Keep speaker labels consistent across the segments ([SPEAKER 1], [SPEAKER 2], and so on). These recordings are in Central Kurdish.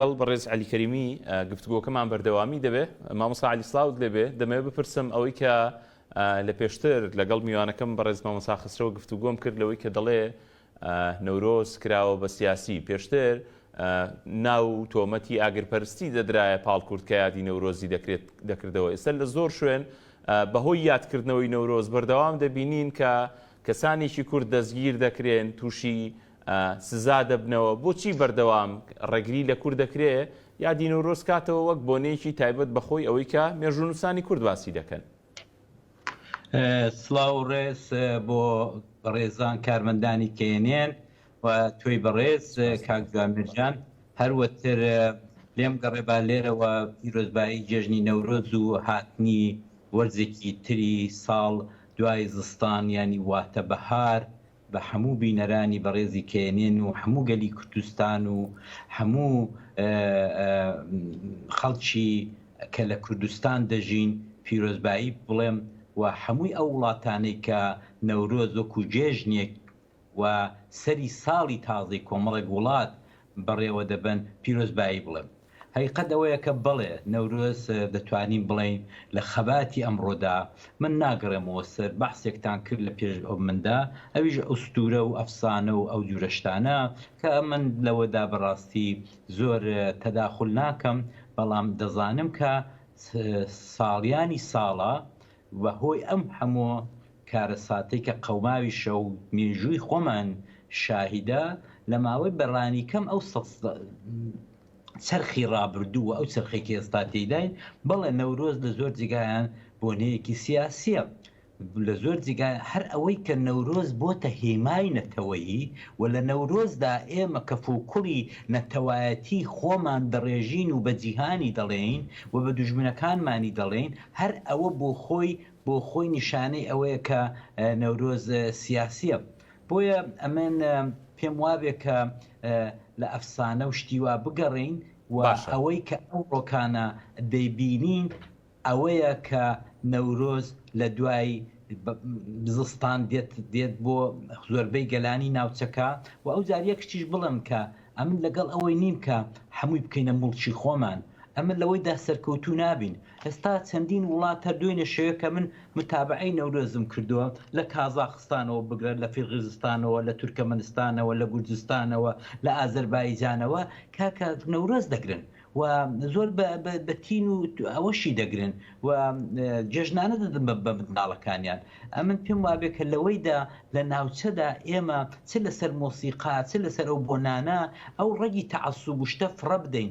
[SPEAKER 1] لەگەڵ بەڕێز عەلی کەریمی گفتوگۆکەمان بەردەوامی دەبێ. مامۆستا عەلی سڵاوت لێبێ، دەمەوێ بپرسم ئەوەی کە لە پێشتر لەگەڵ میوانەکەم بەڕێز مامۆستا خەسرەوە گفتوگۆم کرد لەوەی کە دەڵێ نەورۆز کراوە بە سیاسی، پێشتر ناو و تۆمەتی ئاگرپەرستی دەدرایە پاڵ کورد کە یادی نەورۆزی دەکرێت دەکردەوە، ئێستا لە زۆر شوێن بەهۆی یادکردنەوەی نەورۆز بەردەوام دەبینین کە کەسانێکی کورد دەستگیر دەکرێن، تووشی سزا دەبنەوە، بۆچی بەردەوام ڕێگری لە کورد دەکرێ یادی نەورۆز کاتەوە وەک بۆنەیەکی تایبەت بە خۆی ئەوەی کە مێژوونووسانی کورد باسی دەکەن؟
[SPEAKER 2] سڵاو و ڕێز بۆ بەڕێزان کارمەندانی knn و تۆی بەڕێز کاک جوامێرجان، هەروەتر لێم گەڕێ با لێرەوە پیرۆزبایی جێژنی نەورۆز و هاتنی وەرزێکی تری ساڵ دوای زستان یانی واتە بەهار بە هەموو بینەرانی بەڕێزی کەیەنێن و هەموو گەلی کوردستان و هەموو خەڵکی کە لە کوردستان دەژین پیرۆزبایی بڵێم و هەمووی ئەو وڵاتانەی کە نەورۆز وەکو جێژنێک و سەری ساڵی تازەی کۆمەڵێک وڵات بەڕێوە دەبەن پیرۆزبایی بڵێم. هەقیقەت ئەوەیە کە بەڵێ نەورۆز دەتوانین بڵێین لە خەباتی ئەمڕۆدا، من ناگەڕێمەوە سەر بەحسێکتان کرد لە پێش مندا، ئەویش ئوستوورە و ئەفسانە و ئەو جوورە شتانە کە من لەوەدا بە ڕاستی زۆر تەداخول ناکەم، بەڵام دەزانم کە ساڵیانی ساڵە وە هۆی ئەم هەموو کارەساتەی کە قەوماویشە و مێژووی خۆمان شاهیدە لە ماوەی بە ڕانی کەم ئەو سەد چەرخی ڕابردوو و ئەو چەرخەی کە ئێستا تێیداین بەڵێ نەورۆز لە زۆر جێگایان بۆنەیەکی سیاسیە لە زۆر جێگا هەر ئەوەی کە نەورۆز بۆتە هێمای نەتەوەیی و لە نەورۆزدا ئێمە کەف و کوڵی نەتەوایەتی خۆمان دەڕێژین و بە جیهانی دەڵێین و بە دوژمنەکانمانی دەڵێین هەر ئەوە بۆ خۆی بۆ خۆی نیشانەی ئەوەیە کە نەورۆز سیاسیە بۆیە ئەمن پێم وابێ کە لە ئەفسانە و شتی وا بگەڕێین و ئەوەی کە ئەو ڕۆکانە دەیبینین ئەوەیە کە نەورۆز لە دوای زستان دێت دێت بۆ زۆربەی گەلانی ناوچەکە و ئەو جار یەک شتیش بڵم کە ئەمن لەگەڵ ئەوەی نیم کە هەمووی بکەینە مڵکی خۆمان ئەمن لەوەیدا سەرکەوتوو نابین ئێستا چەندین وڵات هەر دوێنێ شەوێ کە من متابعەی نەورۆزم کردووە لە کازاخستانەوە بگرە لە فیرغیزستانەوە لە تورکەمەنستانەوە لە گورجستانەوە لە ئازەربایجانەوە کاکە نەورۆز دەگرن و زۆر بە تین و ئەوەشی دەگرن و جێژنانە دەدن بە منداڵەکانیان ئەمن پێم وابێ کە لەوەیدا لە ناوچەدا ئێمە چ لەسەر مۆسیقا چ لەسەر ئەو بۆنانە ئەو ڕەگی تەعسوب شتە فڕە بدەین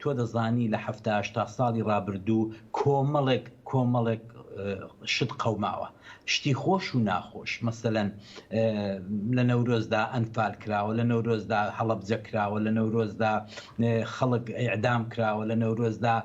[SPEAKER 2] تۆ دەزانی لە حەفتا هەشتا ساڵی ڕابردوو کۆمەڵێک کۆمەڵێک شت قەوماوە شتی خۆش و ناخۆش مەسەلەن لە نەورۆزدا ئەنفال کراوە لە نەورۆزدا هەڵەبجە کراوە لە نەورۆزدا خەڵک ئیعدام کراوە لە نەورۆزدا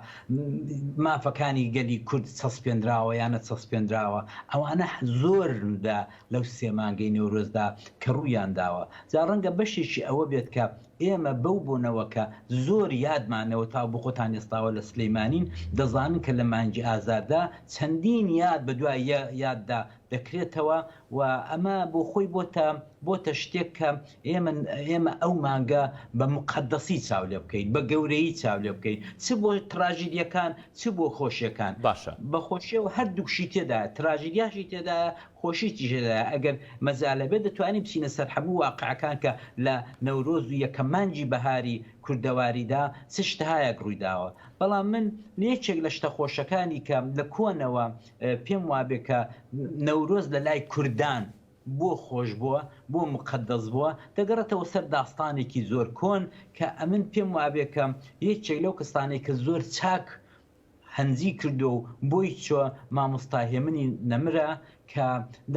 [SPEAKER 2] مافەکانی گەلی کورد چەسپێنراوە یانە چەسپێنراوە ئەوانە زۆر لە لەو سێمانگەی نەورۆزدا کە ڕوویان داوە جا ڕەنگە بەشێکی ئەوە بێت کە ئێمە بەو بۆنەوە کە زۆر یادمانەوە تاوبخۆتان ئێستاوە لە سلیمانین دەزانن کە لە مانگی ئازاردا چەندین یاد بە دوای یاددا دەکرێتەوە و ئەمە بۆ خۆی بۆتە بۆتە شتێک کە ئێمە ئێمە ئەو مانگە بە موقەدەسی چاو لێ بکەین بە گەورەیی چاو لێ بکەین چ بۆ تراژیدیەکان چ بۆ خۆشیەکان باشە. بە خۆشیەوە هەردووکشی تێدایە تراژیدیاشی تێدایە خۆ شتیش هەیە ئەگەر مەجالە بێت دەتوانین بچینە سەر هەموو واقعەکان کە لە نەورۆز و یەکەم مانگی بەهاری کوردەواریدا چ شتهایەک ڕوویداوە بەڵام من یەکێک لە شتە خۆشەکانی کە لە کۆنەوە پێم وابێ کە نەورۆز لە لای کوردان بۆ خۆش بووە بۆ موقەدەس بووە دەگەڕێتەوە سەر داستانێکی زۆر کۆن کە ئەمن پێم وابێ کە یەکێک لەو کەسانەی کە زۆر چاک هەنجی کردو و بۆی چوە ماموستا هێمنی نەمرە کە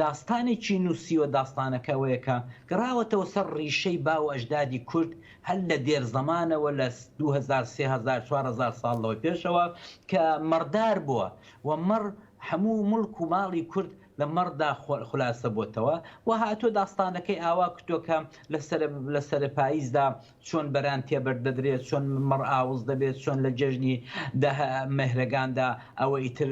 [SPEAKER 2] داستانێکی نوسیوە داستانەکە ئەوەیە کە گەڕاوەتەوە سەر ڕیشەی باو و ئەژدادی کورد هەر لە دێر زەمانەوە لە دوو هەزار سێ هەزار چوار هەزار ساڵ لەوە پێشەوە کە مەڕدار بوە و مەڕ هەموو موڵک و ماڵی کورد لە مەڕدا خولاسە بۆتەوە و هاتوە داستانەکەی ئاوا کردوە کە لە سەرە پایزدا چۆن بەران تێبەر دەدرێت، چۆن مەڕ ئاوس دەبێت، چۆن لە جەژنی دە مەهرەگاندا ئەوە ئیتر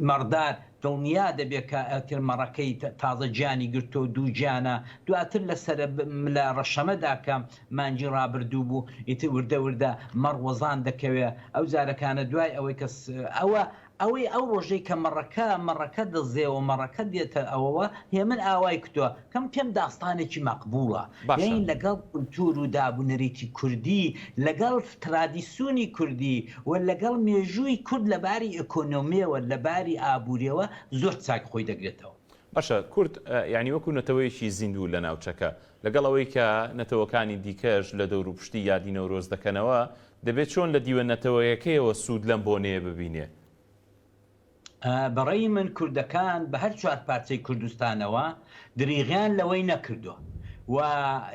[SPEAKER 2] مەڕدار دڵنیا دەبێت کە ئیتر مەڕەکەی تازە گیانی گرتووە و دووگیانە. دواتر لە سەرە لە ڕەشەمەدا کە مانگی ڕابردوو بوو ئیتر وردە وردە مەڕ وەزان دەکەوێت. ئەو زارەکانە دوای ئەوەی کە ئەوە ئەوەی ئەو ڕۆژەی کە مەڕەکە مەڕەکە دەزێوە مەڕەکە دێتە ئەوەوە هێمن ئاوای کوتوە کەم کەم داستانێکی مەقبووڵە باشە. یەین لەگەڵ کولتوور و داب و نەریتی کوردی لەگەڵ ترادیسوونی کوردی و لەگەڵ مێژووی کورد لە باری ئێکۆنۆمیەوە لە باری ئابووریەوە زۆر چاک خۆی دەگرێتەوە. باشە کورد
[SPEAKER 1] یانی وەکوو نەتەوەیەکی زیندوو لە ناوچەکە لەگەڵ ئەوەی کە نەتەوەکانی دیکەش لە دەوروپشتی یادی نەورۆز دەکەنەوە دەبێت چۆن لە دیوە نەتەوەیەکەیەوە سوود لەم بۆنەیە ببینێ؟ بە
[SPEAKER 2] ڕێی من کوردەکان بە هەر چوار پارچەی کوردستانەوە دریغیان لەوەی نەکردوە و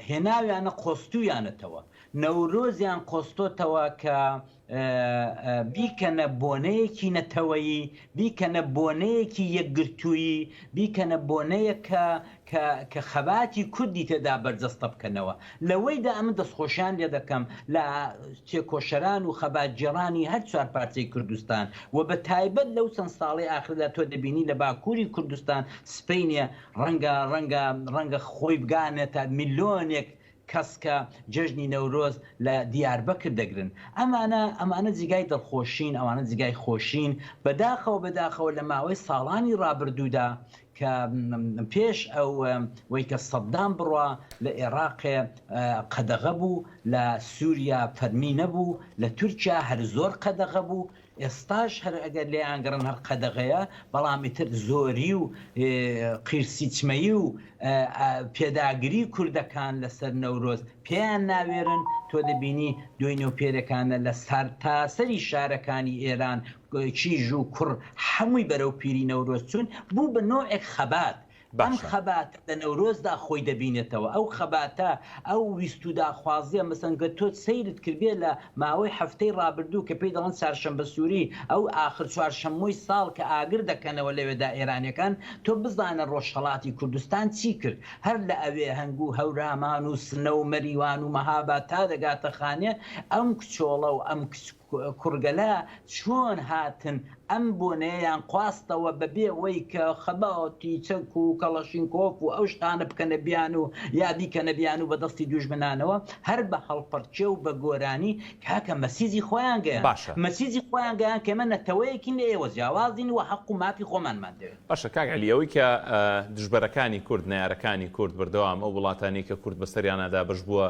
[SPEAKER 2] هێناویانە قۆستویانەتەوە، نەورۆزیان قۆستۆتەوە کە بیکەنە بۆنەیەکی نەتەوەیی، بیکەنە بۆنەیەکی یەکگرتوویی، بیکەنە بۆنەیەک کە کە کە خەباتی کوردی تێدا بەرجەستە بکەنەوە. لەوەیدا ئەمن دەستخۆشیان لێ دەکەم لە تێکۆشەران و خەباتگێڕانی هەر چوار پارچەی کوردستان و بە تایبەت لەو چەند ساڵەی ئاخردا تۆ دەبینی لە باکووری کوردستان سپەینێ ڕەنگە ڕەنگە ڕەنگە خۆی بگانێتە میلۆنێک کەس کە جێژنی نەورۆز لە دیاربەکر دەگرن. ئەمانە ئەمانە جیگای دڵخۆشین، ئەوانە جیگای خۆشین. بەداخەوە بەداخەوە لە ماوەی ساڵانی ڕابردوودا کە پێش ئەو وەی کە سەدام بڕا لە ئێڕاق قەدەغە بوو، لە سووریا فەرمی نەبوو، لە تورکیا هەر زۆر قەدەغە بوو، ئێستاش هەر ئەگەر لێیانگەڕن هەر قەدەغەیە، بەڵام ئیتر زۆری و قیرسیچمەیی و پێداگری کوردەکان لە سەر نەورۆز پێیان ناوێرن، تۆ دەبینی دوێنێ و پێرێکانە لە سەرتاسەری شارەکانی ئێران کیژ و کوڕ هەمووی بەرەو پیری نەورۆز چوون، بوو بە نۆعێک خەبات. ئەم باشە. خەباتە لە نەورۆزدا خۆی دەبینێتەوە. ئەو خەباتە، ئەو ویست و داخوازییە، مەسەن گەر تۆ سەیرت کردبێ لە ماوەی هەفتەی ڕابردوو کە پێی دەڵێن چارشەمبە سووری، ئەو ئاخر چوارشەممۆی ساڵ کە ئاگر دەکەنەوە لەوێدا ئێرانییەکان، تۆ بزانە ڕۆژهەڵاتی کوردستان چی کرد؟ هەر لە ئەوێهەنگ و هەورامان و سنە و مەریوان و مەهاباد تا دەگاتە خانێ، ئەم کچۆڵە و ئەم کچ، کوڕگەلە چۆن هاتن ئەم بۆنەیەیان قواستەوە بەبێ وەی کە خەباتی چەک و کەڵەشینکۆف و ئەو شتانە بکەنە بیان و یا بیکەنە بیان و بە دەستی دوژمنانەوە هەر بە هەڵپەڕکێ و بە گۆرانی کاکە مەسیجی خۆیان گەیاند باشە. مەسیجی خۆیان گەیاند کە ئێمە نەتەوەیەکین لە ئێوە جیاوازین و هەق و مافی خۆمانمان دەوێت. باشە کاک عەلی ئەوەی کە
[SPEAKER 1] دژبەرەکانی کورد نەیارەکانی کورد بەردەوام ئەو وڵاتانەی کە کورد بەسەریانا دابەش بووە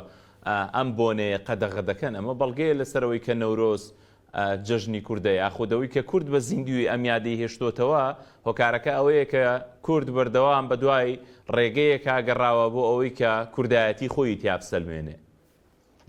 [SPEAKER 1] ئەم بۆنەیە قەدەغە دەکەن، ئەمە بەڵگەیە لەسەر ئەوەی کە نەورۆز جەژنی کوردە، یاخود ئەوەی کە کورد بە زیندوویی ئەم یادەی هێشتۆتەوە، هۆکارەکە ئەوەیە کە کورد بەردەوام بە دوای ڕێگەیەکا گەڕاوە بۆ ئەوەی کە کوردایەتی خۆیی تیا بسەلمێنێ.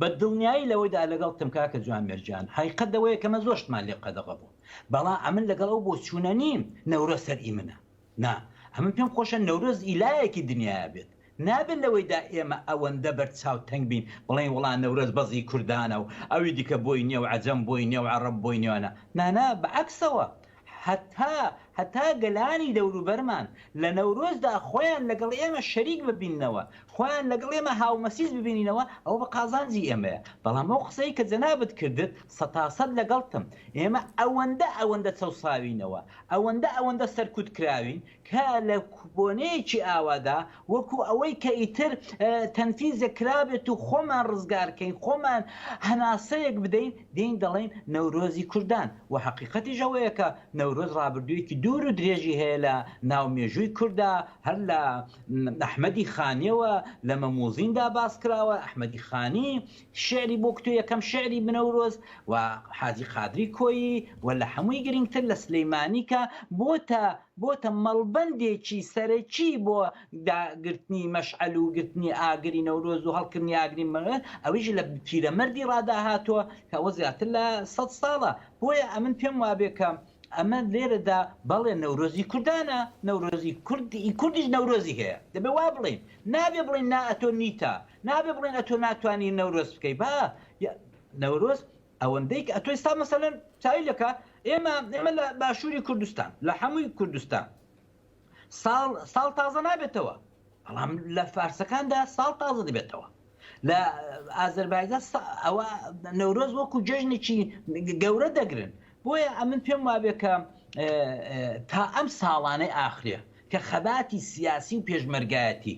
[SPEAKER 1] بە
[SPEAKER 2] دڵنیایی لەوەیدا لەگەڵتم کاکە جوامێر گیان، هەقیقەت لەوەیە کە ئەمە زۆر شتمان لێ قەدەغە بوو، بەڵا ئەمن لەگەڵ ئەو بۆچوونە نیم نەورۆز سەر ئیمنە، نا ئەمن پێم خۆشە نەورۆز ئی لایەکی دنیایە بێت نابێت لەوەیدا ئێمە ئەوەندە بەر چاو تەنگ بین بڵێین وڵا نەورۆز بەس ئی کوردانە و ئەوی دیکە بۆی نیە و عەجەم بۆی نیە و عەڕەب بۆی نیە نا نا نا بە عەکسەوە هەتا هەتا گەلانی دەوروبەرمان لە نەورۆزدا خۆیان لەگەڵ ئێمە شەریک ببیننەوە خۆیان لەگەڵ ئێمە هاومەسیس ببینینەوە ئەوە بە قازانجی ئێمەیە بەڵام ئەو قسەی کە جەنابت کردت سەتاسەت لەگەڵتم، ئێمە ئەوەندە ئەوەندە چەوساوینەوە، ئەوەندە ئەوەندە سەرکوت کراوین کە لە بۆنەیەکی ئاوادا وەکو ئەوەی کە ئیتر تەنفیزێک کرابێت و خۆمان ڕزگارکەین، خۆمان هەناسەیەک بدەین، دێین دەڵێین نەورۆزی کوردان و هەقیقەتیش ئەوەیە کە نەورۆز ڕابردوویەکی دوور و درێژی هەیە لە ناو مێژووی کوردا، هەر لە ئەحمەدی خانییەوە لە مەموزیندا باس کراوە، ئەحمەدی خانی شیعری بۆ کتو یەکەم شیعری بنەورۆز و حاجی قادری کۆیی و لە هەمووی گرینگتر لە سلیمانی کە بۆتە بۆتە مەڵبەندێکی سەرەکی بۆ دا گرتنی مەشعەل و گرتنی ئاگری نەورۆز و هەڵکردنی ئاگری مەوێت ئەویش لە پیرەمەردی ڕادا هاتووە کە ئەوە زیاتر لە سەد ساڵە بۆیە ئەمن پێم وابێ کە ئەمە لێرە دا بەڵێ نەورۆزی کوردانە نەورۆزی کورد ی کوردیش نەورۆزی هەیە دەبێ وا بڵێین نابێ بڵێین نا ئەتۆ نیتە نابێ بڵێن ئەتۆ ناتوانی نەورۆز بکەی با نەورۆز ئەوەندەی کە ئەتۆ ئێستا مەسەلەن چاوی لەکە ئێمە ئێمە لە باشووری کوردستان لە حەمووی کوردستان ساڵ ساڵ تازە نابێتەوە بەڵام لە فارسەکاندا ساڵ تازە دەبێتەوە لە ئازربایجان ئەوە نەورۆز وەکو جژنێکی گەورە دەگرن بۆیە ئەمن پێم وابێ کە تا ئەم ساڵانەی ئاخرێ کە خەباتی سیاسی و پێشمەرگایەتی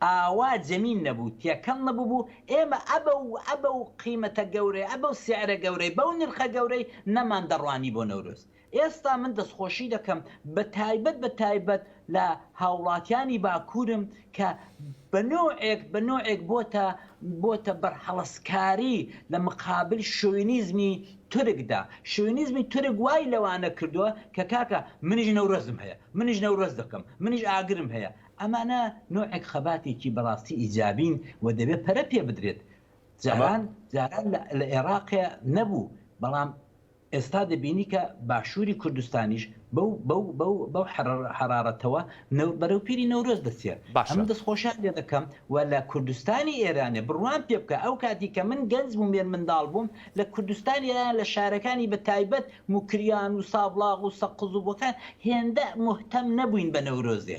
[SPEAKER 2] ئاوا جەمین نەبوو تێکەڵ نەببوو ئێمە ئەبە و ئەبە و قیمەتە گەورەی ئەبە و سعرە گەورەی بەو نرخە گەورەی نەمان دەڕوانی بۆ نەورۆز ئێستا من دەستخۆشی دەکەم بە تایبەت بە تایبەت لە هاوڵاتیانی باکورم کە بە نۆعێک بە نۆعێک بۆتە بۆتە بەرهەڵستکاری لە مقابل شۆوینیزمی تورکدا شۆوینیزمی تورک وای لەوانە کردووە کە کاکە منیش نەورۆزم هەیە منیش نەورۆز دەکەم منیش ئاگرم هەیە ئەمانە نۆعێک خەباتێکی بەڕاستی ئیجابین و دەبێت پەرە پێ بدرێت جاران جاران لە ئێراقێ نەبوو بەڵام ئێستا دەبینی کە باشووری کوردستانیش بەو بەو بەو بەو حەرارەتەوە نەو بەرەو پیری نەورۆز دەچێ. باشە. ئەمن دەستخۆشیان لێ دەکەم و لە کوردستانی ئێرانێ بڕوام پێ بکە ئەو کاتی کە من گەنج بووم مێرمنداڵ بووم لە کوردستانی ئێران لە شارەکانی بە تایبەت موکریان و سابڵاغ و سەقز و بۆکان هێندە موهتەم نەبووین بە نەورۆزێ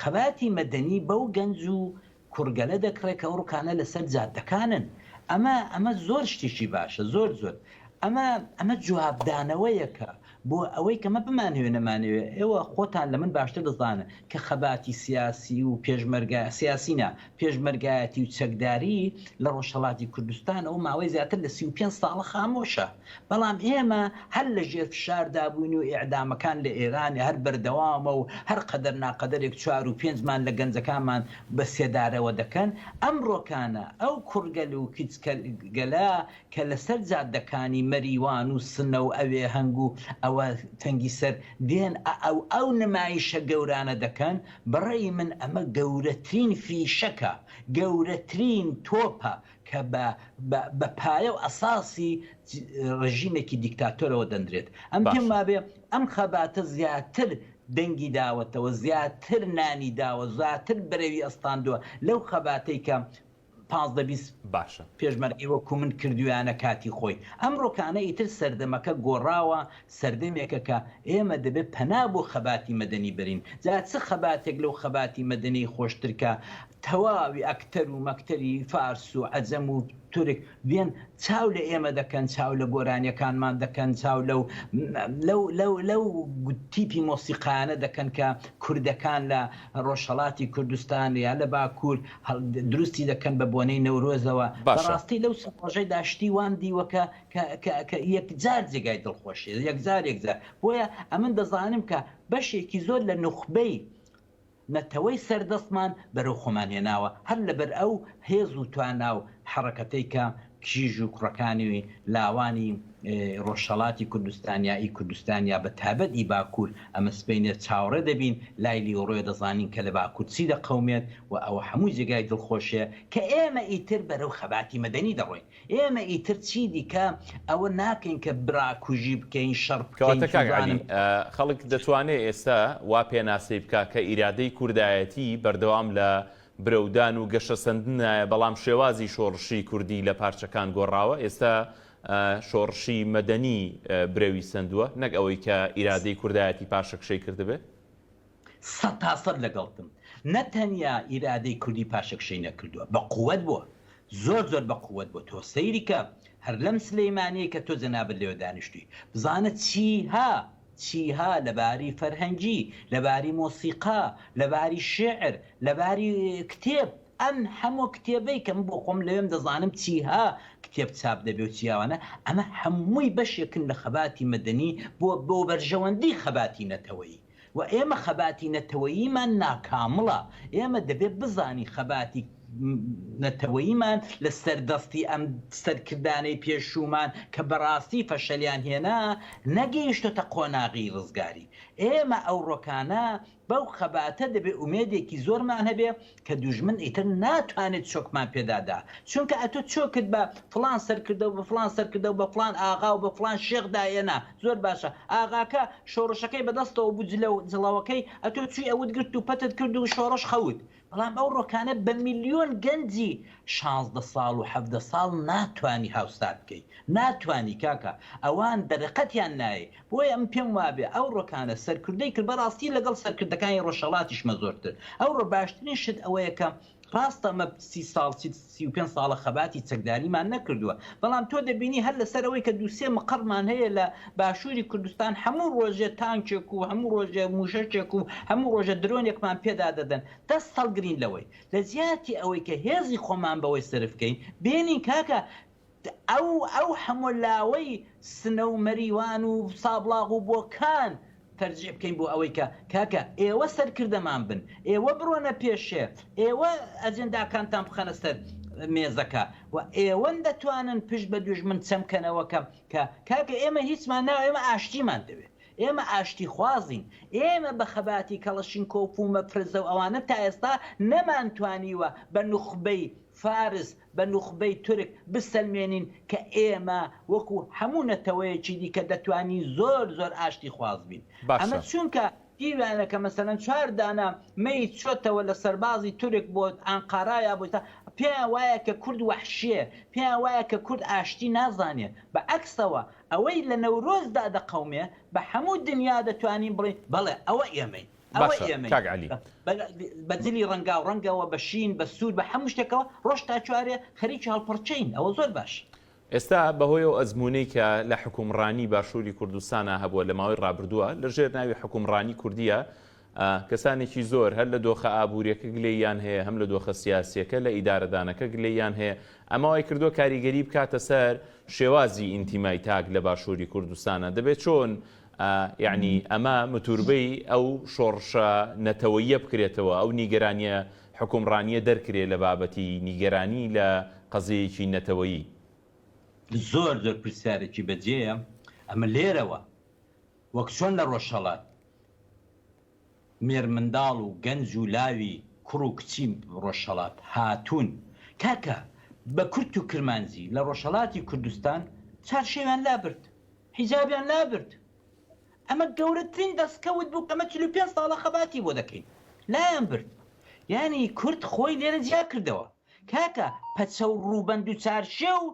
[SPEAKER 2] خەباتی مەدەنی بەو گەنج و کوڕگەلە دەکڕێ کە ئەو ڕوکانە لە سەر جادەکانن ئەمە ئەمە زۆر شتیکی باشە زۆر زۆر ئەمە ئەمە جواب دانەوەیەکە بۆ ئەوەی کە مە بمانەوێ نەمانەوێ ئێوە خۆتان لە من باشتر دەزانن کە خەباتی سیاسی و پێشمەرگە سیاسی نا پێشمەرگایەتی و چەکداری لە ڕۆژهەڵاتی کوردستانەوە ماوەی زیاتر لە سی و پێنج ساڵە خامۆشە، بەڵام ئێمە هەر لە ژێر فشاردا بووین و ئێعدامەکان لە ئێران هەر بەردەوامە و هەر قەدەر ناقەدەرێک چوار و پێنج مان لە گەنجەکانمان بە سێدارەوە دەکەن. ئەمڕۆکانە ئەو کوڕگەل و کچگەلە کە لەسەر جادەکانی مەریوان و سنە و ئەوێ هەنگ و ئەوە تەنگی سەر دێن ئە و ئەو نمایشە گەورانە دەکەن، بەڕەئی من ئەمە گەورەترین فیشەکە، گەورەترین تۆپە کە بە بە بە پایە و ئەساسی ڕژیمێکی دیکتاتۆرەوە دەنرێت. ئەم پێم باشە. وابێ ئەم خەباتە زیاتر دەنگی داوەتەوە، زیاتر نانی داوە، زاتر بەرەوی ئەستاندوە لەو خەباتەی کە. پازدە بیست باشە.
[SPEAKER 1] پێشمەرگەی وەکو من
[SPEAKER 2] کردویانە کاتی خۆی. ئەمڕۆکانە ئیتر سەردەمەکە گۆڕاوە، سەردەمێکە کە ئێمە دەبێت پەنا بۆ خەباتی مەدەنی بەرین. جا چ خەباتێک لەو خەباتی مەدەنیی خۆشتر کە تەواوی ئەکتەر و مەکتەری فارس و عەجەم و تورک، دێن چاو لە ئێمە دەکەن چاو لە گۆرانیەکانمان دەکەن چاو لەو لەو لەو لەو تیپی مۆسیقایانە دەکەن کە کوردەکان لە ڕۆژهەڵاتی کوردستان یا لە باکوور هەڵ دروستی دەکەن بە بۆنەی نەورۆزەوە بە باشە ڕاستی لەو سێ ڕۆژەیدا شتی وام دیوە کە کە کە کە یەکجار جێگای دڵخۆشیە یەکجار یەکجار بۆیە ئەمن دەزانم کە بەشێکی زۆر لە نوخبەی نەتەوەی سەردەستمان بەرەو خۆمان هێناوە هەر لەبەر ئەو هێز و توانا و حەڕەکەتەی کە کیژ و کوڕەکانی لاوانی ڕۆژهەڵاتی کوردستان یا ئی کوردستان یا بەتابەت ئی باکوور ئەمەسپێنێت چاوەڕێ دەبین لای لیوڕێ دەزانین کە لە باکوور چی دەقەومێت و ئەوە هەموو جێگای دڵخۆشێ کە ئێمە ئیتر بەرەو خەباتی مەدەنی دەڕۆین ئێمە ئیتر چی دیکە ئەوە ناکەین کە براکوژی بکەین، شەڕ بکەین، کەواتە کاک عەلی، سوزانم. خەڵک
[SPEAKER 1] دەتوانێ ئێستا وا پێناسەی بکا کە ئیرادەی کوردایەتی بەردەوام لە برەودان و گەشەسەندندایە، بەڵام شێوازی شۆڕشی کوردی لە پارچەکان گۆڕاوە، ئێستا شۆڕشی مەدەنی برەوی سەندووە، نەک ئەوەی کە ئیرادەی کوردایەتی پاشەکشەی کردبێ؟ سەد
[SPEAKER 2] تا سەد لەگەڵتم نە تەنیا ئیرادەی کوردی پاشەکشەی نەکردوە بە قوەت بوە زۆر زۆر بە قوەت بوە تۆ سەیری کە هەر لەم سلیمانیەی کە تۆ جەنابت لێوە دانیشتوی بزانە چیها چیها لە باری فەرهەنگی لە باری مۆسیقا لە باری شیعر لە باری کتێب ئەم هەموە کتێبەی کە من بۆ خۆم لەوێم دەزانم چیها کتێب چاپ دەبێ و چیاوانە ئەمە هەموی بەشێکن لە خەباتی مەدەنی بۆ بۆ بەرژەوەندی خەباتی نەتەوەیی. و ئێمە خەباتی نەتەوەییمان ناکامڵە، ئێمە دەبێت بزانین خەباتی نەتەوەییمان لە سەر دەستی ئەم سەرکردانەی پێشوومان کە بەڕاستی فەشەلیان هێنا نەگەیشتۆتە قۆناغی ڕزگاری، ئێمە ئەوڕۆکانە بەو خەباتە دەبێت ئومێدێکی زۆرمان هەبێت کە دوژمن ئیتر ناتوانێت چۆکمان پێدادا چونکە ئەتۆ چۆکت بە فڵان سەرکردە و بە فڵان سەرکردە و بە فڵان ئاغا و بە فڵان شێخ داهێنا زۆر باشە ئاغاکە شۆڕشەکەی بەدەستەوە بوو جلە و جڵەوەکەی ئەتۆ چووی ئەوت گرت و پەتت کرد و شۆڕش خەوت بەڵام ئەو ڕۆکانە بە ملیۆن گەنجی شانزدە ساڵ و حەڤدە ساڵ ناتوانی هاوسار بکەی ناتوانی کاکە ئەوان دەرەقەتیان نایەی بۆیە من پێم وابێ ئەو ڕۆکانە سەرکردەی کرد بەڕاستی لەگەڵ سەرکردەکانی ڕۆژهەڵاتیشمە زۆرتر ئەوڕۆ باشترین شت ئەوەیە کە ڕاستە مە سی ساڵ سی و پێنج ساڵە خەباتی چەکداریمان نەکردووە بەڵام تۆ دەبینی هەر لەسەر ئەوەی کە دوو سێ مقەڕمان هەیە لە باشووری کوردستان هەموو ڕۆژێ تانکێک و هەموو ڕۆژێ مووشەکێک و هەموو ڕۆژە درۆنێکمان پێدا دەدەن دەست هەڵگرین لەوەی لە جیاتی ئەوەی کە هێزی خۆمان بەوەی سەرفکەین بێنین کاکە ئەو ئەو هەموو لاوەی سنە و مەریوان و سابڵاغ و بۆکان تەرجیع بکەین بۆ ئەوەی کە کاکە ئێوە سەرکردەمان بن ئێوە بڕۆنە پێشێ ئێوە ئەجێنداکانتان بخەنە سەر مێزەکە و ئێوەن دەتوانن پشت بە دوژمن چەم کەنەوە کە کە کاکە ئێمە هیچمان ناوێ ئێمە ئاشتیمان دەوێ ئێمە ئاشتی خوازین ئێمە بە خەباتی کەڵەشینکۆف و مەفرەزە و ئەوانە تا ئێستا نەمانتوانیوە بە نوخبەی فارس بە نوخبەی تورک بسەلمێنین کە ئێمە وەکو هەموو نەتەوەیەکی دیکە دەتوانین زۆر زۆر ئاشتی خواز بین. باشە. ئەمە چونکە دیویانە کە مەسەلەن چوار دانە مەیت چۆتەوە لە سەربازی تورک بۆ ئانقارا یا بۆ ئیستا پێیان وایە کە کورد وەحشیە پێیان وایە کە کورد ئاشتی نازانێ بە عەکسەوە ئەوەی لە نەورۆزدا دەقەومێ بە هەموو دنیا دەتوانین بڵێین بەڵێ ئەوە ئێمەین. باشە کاک عەلی بە جلی ڕەنگا و ڕەنگەوە بە شین بە سوور بە هەموو شتێکەوە ڕۆژ تا چوارێ خەریکی هەڵپەڕکێین ئەوە زۆر باش. ئێستا بەهۆی
[SPEAKER 1] ئەو ئەزموونەی کە لە حوکمڕانی باشووری کوردستانا هەبووە لە ماوەی ڕابردووە لە ژێر ناوی حوکمڕانی کوردییە کەسانێکی زۆر هەر لە دۆخە ئابووریەکە گلەییان هەیە هەم لە دۆخە سیاسیەکە لە ئیدارەدانەکە گلەییان هەیە ئەمە وای کردووە کاریگەری بکاتە سەر شێوازی ئینتیمای تاک لە باشووری کوردستانە دەبێت چۆن ئا یەعنی ئەمە متوربەی ئەو شۆڕشە نەتەوەییە بکرێتەوە، ئەو نیگەرانییە حکومڕانییە دەرکرێ لە بابەتی نیگەرانی لە قەزیەیەکی نەتەوەیی.
[SPEAKER 2] زۆر زۆر پرسیارێکی بەجێیە ئەمە لێرەوە وەک چۆن لە ڕۆژهەڵات. مێرمنداڵ و گەنج و لاوی کوڕ و کچی ڕۆژهەڵات هاتوون کاکە بە کورت و کرمانجی لە ڕۆژهەڵاتی کوردستان چارشێویان لابرد حیجابیان لابرد ئەمە گەورەترین دەستکەوت بوو ئەمە چل و پێنج ساڵە خەباتی بۆ دەکەین لایان برد یانی کورد خۆی لێرە جیا کردەوە کاکە پەچە و ڕووبەند و چارشێو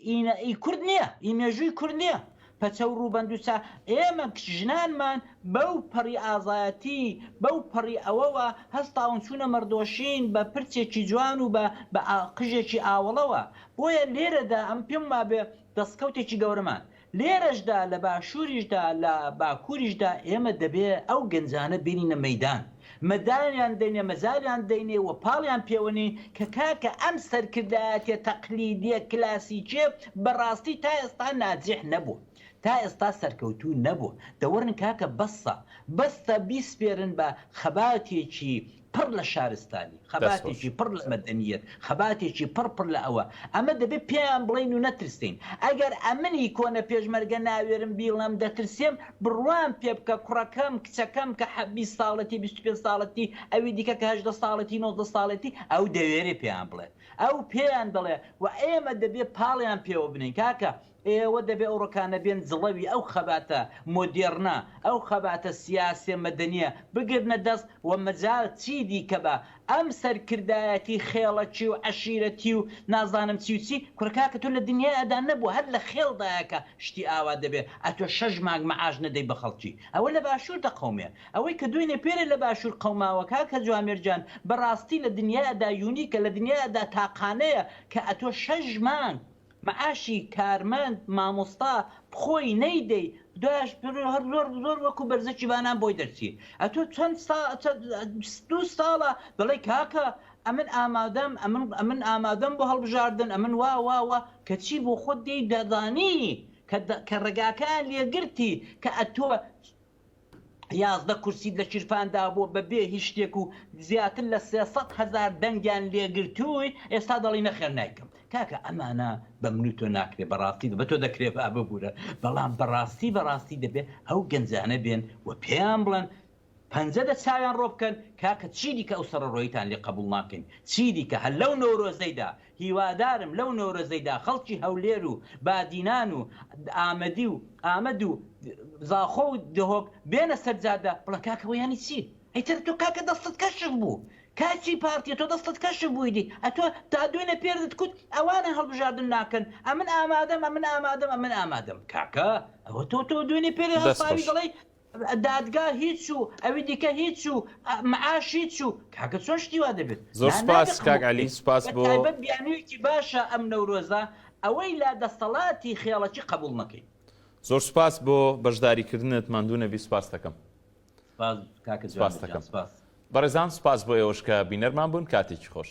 [SPEAKER 2] ئی نە ئی کورد نیە ئی مێژووی کورد نیە پەچە و ڕووبەند و چا ئێمە کچ ژنانمان بەو پەڕی ئازایەتی بەو پەڕی ئەوەوە هەستاون چوونە مەڕدۆشین بە پرچێکی جوان و بە بە قژێکی ئاوەڵەوە بۆیە لێرەدا ئەم پێم وابێ دەسکەوتێکی گەورەمان لێرەشدا لە باشووریشدا لە باکووریشدا ئێمە دەبێ ئەو گەنجانە بێنینە مەیدان، مەدالیان دەینێ، مەجالیان دەینێ و پاڵیان پێوە نێین کە کاکە ئەم سەرکردایەتیە تەقلیدیە کلاسیکیە بە ڕاستی تا ئێستا ناجیح نەبووە، تا ئێستا سەرکەوتوو نەبووە، دەوەرن کاکە بەسە، بەسە بیسپێرن بە خەباتێکی پڕ لە شارستانی، خەباتێکی پڕ لە مەدەنییەت، خەباتێکی پڕ پڕ لە ئەوە. ئەمە دەبێ پێیان بڵێین و نەترسێین. ئەگەر ئەمنی کۆنە پێشمەرگە ناوێرم بیڵێم دەترسێم، بڕوام پێ بکە کڕەکەم، کچەکەم کە حە بیست ساڵەتی، بیست و پێنج ساڵەتی، ئەوی دیکە کە هەژدە ساڵەتی، نۆزدە ساڵەتی، ئەو دەوێرێ پێیان بڵێت. ئەو پێیان دەڵێ و ئێمە دەبێ پاڵیان پێوە بنێین. کاکە ئێوە دەبێ ئەو ڕکانە بێن جڵەوی ئەو خەباتە مۆدێڕنە، ئەو خەباتە سیاسیە مەدەنیە بگرنە دەست و مەجال چی دیکە بە ئەم سەرکردایەتی خێڵەکی و عەشیرەتی و نازانم چی و چی، کورە کاکە تۆ لە دنیادا نەبووە هەر لە خێڵدایە کە شتی ئاوا دەبێ، ئەتۆ شەش مانگ معاش نەدەی بە خەڵکی، ئەوە لە باشوور دەقەومێ، ئەوەی کە دوێنێ پێرێ لە باشوور قەوماوە کاکە جوامێر گیان بەڕاستی لە دنیادا یونیکە، لە دنیادا تاقانەیە کە ئەتۆ شەش مانگ معاشی کارمەند مامۆستا بخۆی نەیدەی دواش هەر زۆر زۆر وەکو بەرزکی بانان بۆی دەرچی ئەتۆ چەند سا چە بیست دوو ساڵە دەڵێی کاکە ئەمن ئامادەم ئەمن ئەمن ئامادەم بۆ هەڵبژاردن ئەمن وا وا وا کەچی بۆ خۆت دێی دەزانی کە دە کە ڕێگاکەیان لێگرتی کە ئەتۆ یازدە کورسیت لە کیرپان دابووە بە بێ هیچ شتێک و زیاتر لە سێ سەد هەزار دەنگیان لێ گرتووی ئێستا دەڵی نەخێر نایکەم کاکە ئەمانە بە من و تۆ ناکرێ بە ڕاستی بە تۆ دەکرێ با ببورە بەڵام بە ڕاستی بە ڕاستی دەبێ ئەو گەنجانە بێن و پێیان بڵێن پەنجە دە چاویان ڕۆ بکەن کاکە چی دیکە ئەو سەڕەڕۆییتان لێ قەبووڵ ناکەین چی دیکە هەر لەو نەورۆزەیدا هیوادارم لەو نەورۆزەیدا خەڵکی هەولێر و بادینان و ئامەدی و ئامەد و زاخۆ و دهۆک بێنە سەر جادە بڵێن کاکە وە یانی چی؟ ئەی تەنە تۆ کاکە دەستت کەشف بوو کاچی پارتیە تۆ دەستت کەشف بوویدی ئەتۆ تا دوینە پێردت کوت ئەوانە هەڵبژاردن ناکەن ئەمن ئامادەم ئەمن ئامادەم ئەمن ئامادەم کاکە ئەوە تۆ تۆ دوینە پێردت هەڵساوی دەڵێی دادگا هیچ و ئەوی دیکە هیچ و معاش هیچ و کاکە چۆن شتی وا دەبێت زۆر نا نابێ سوپاس کاک قبوڵ
[SPEAKER 1] علی بکەی سوپاس بە بۆ تایبەت بیانویەکی باشە
[SPEAKER 2] ئەم نەورۆزە ئەوەی لا دەستەڵاتی خێڵەکی قبوڵ نەکەی. زۆر سوپاس
[SPEAKER 1] بۆ بەشداری کردنت ماندوو نەبی سوپاستەکەم. سوپاس کاکە جوان گیان
[SPEAKER 2] سوپاستەکەم
[SPEAKER 1] سوپاس. بەڕێزان
[SPEAKER 2] سوپاس
[SPEAKER 1] بۆ ئێوەش کە بینەرمان بوون
[SPEAKER 2] کاتێکی
[SPEAKER 1] خۆش.